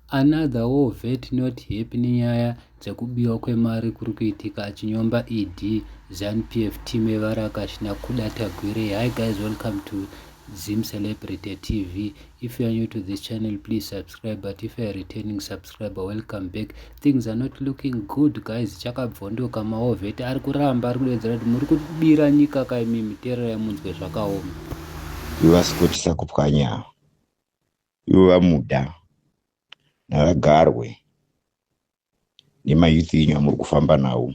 Another war vet not happy nenyaya dzekubiwa kwemari kuri kuitika achinyomba ED, Zanu PF team yevarakash naKuda Tagwirei. Hi guys welcome to Zim Celebrity TV. If you are new to this channel please subscribe but if you are returning subscriber welcome back. Things are not looking good guys chakabvondoka maovheti ari kuramba ari kudedzera kuti muri kubira nyika kaimi mitererai munzwe zvakaoma. Ivasukutisa kupwanya. ivo vamuda ngavagarwe nemayouth enyu amuri kufamba nawo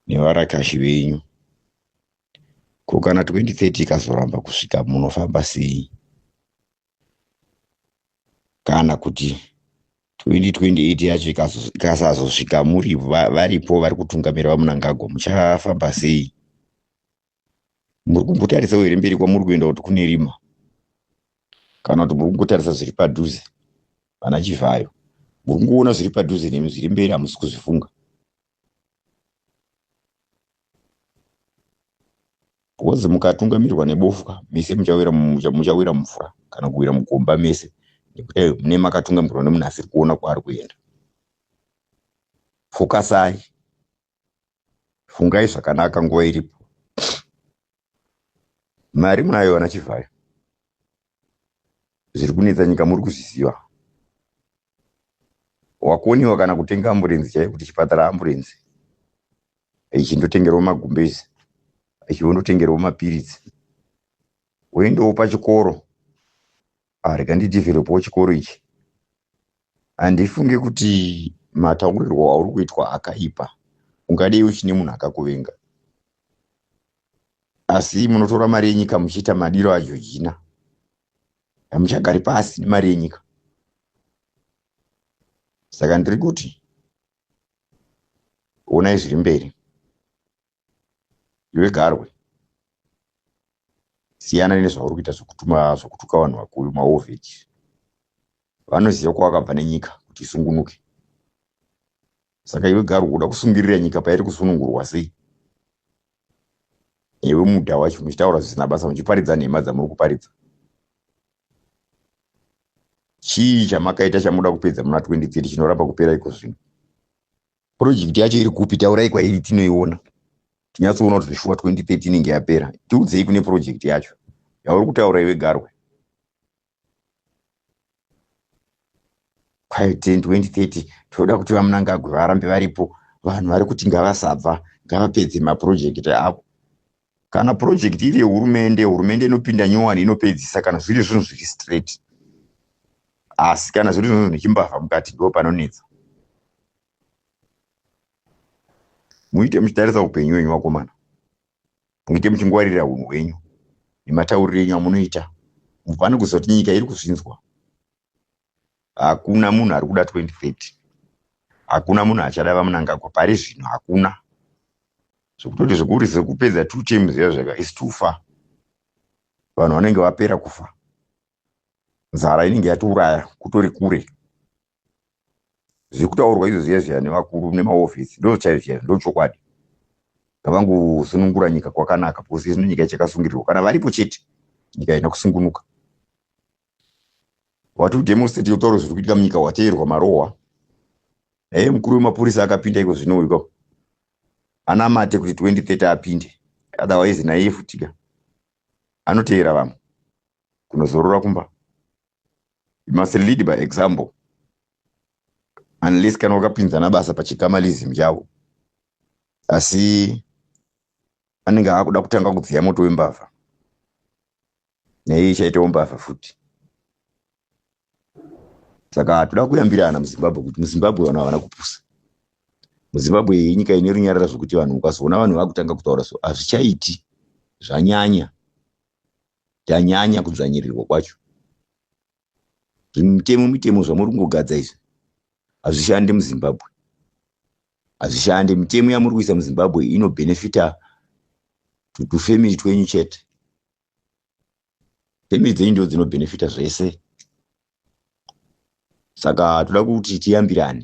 nevarakashi venyu ko kana 2030 ikazoramba kusvika munofamba sei kana kuti 2028 yacho ikazo- ikasazosvika muri va- varipo vari kutungamira vamunangagwa muchafamba sei muri kumbotarisao here mberi kwamuri kuenda kuti kune rima kana kuti muri kungotarisa zviri padhuze vana chivhayo muri kungoona zviri padhuze nemi zviri mberi hamusi kuzvifunga bhozi mukatungamirwa nebofwa mese muchawira muchawira mvura kana kuwira mugomba mese nekuti mune makatungamirwa nemunhu asiri kuona kwaari kuenda fokasai fungai zvakanaka nguva iripo mari munayo vana chivhayo zviri kunetsa nyika muri kuzviziva wakoniwa kana kutenga amburenzi chaiyo kuti chipatara amburenzi ichindotengerwa magumbezi ichiondotengerwa mapiritsi woendawo pachikoro Ah, rega ndidevelopawo chikoro ichi handifunge kuti mataurirwo auri kuitwa akaipa ungadei uchine munhu akakuvenga asi munotora mari yenyika muchiita madiro ajojina hamuchagari pasi nemari yenyika saka ndiri kuti onai zviri mberi iwe garwe siyana nezvauri kuita zvekutuma zvekutuka vanhu vakuru maoveji vanoziva kwawakabva nenyika kuti isungunuke saka iwe garwe kuda kusungirira nyika pairi kusunungurwa sei iwe muda wacho muchitaura zvisina basa muchiparidza nhema dzamuri kuparidza chii chamakaita chamuda kupedza muna 2030 chinoramba kupera iko zvino project yacho iri kupi taurai kwairi tinoiona tinyatsoona kuti zveshuwa 2030 inenge yapera tiudzei kune project yacho yauri kutaura iwe garwe kwayo 10 2030 tinoda kuti vamunangagwe varambe varipo vanhu vari kuti ngavasabva ngavapedze mapurojekiti avo kana project iri yehurumende hurumende inopinda nyowani inopedzisa kana zviri zvinhu zviri straight asi kana zviri zvinhu nechimbavha mukati ndo panonetsa muite muchitarisa upenyu wenyu vakomana muite muchingwarira unhu hwenyu nematauriro enyu amunoita mubvane kuziva kuti nyika iri kuzvinzwa hakuna munhu ari kuda 2030 hakuna munhu achada vamunangagwa pari zvino hakuna zvekutoti zvekuri zvekupedza two teams zviya zvega is too far vanhu vanenge vapera kufa nzara inenge yatiuraya kutori kure zvekutaurwa izvo zviya zviya nevakuru nemahofisi ndochaizvo chaizvo ndochokwadi ngavangosunungura nyika kwakanaka because izvino nyika ichakasungirirwa kana varipo chete nyika haina kusungunuka wati udemonstrate yotaura zviri kuitika munyika wateerwa marohwa hee mukuru wemapurisa akapinda iko zvino iko anamate kuti 2030 apinde otherwise naiye futika anoteera vamwe kunozorora kumba you must lead by example unless kana wakapinzana basa pachikamalism chavo asi anenge akuda kutanga kudziya moto wembavha neiyi ichaitawo mbavha futi saka toda kuyambirana muzimbabwe kuti muzimbabwe vanhu havana kupusa muzimbabwe iyi inyika ine runyarara zvokuti vanhu ukazoona vanhu vakutanga kutaura so hazvichaiti zvanyanya tanyanya kudzvanyirirwa kwacho zvimitemo mitemo zvamuri kungogadza izvi hazvishande muzimbabwe hazvishande mitemo yamuri kuisa muzimbabwe inobhenefita tutufamily twenyu chete family dzenyu ndo dzinobhenefita zvese saka toda kuti tiyambirane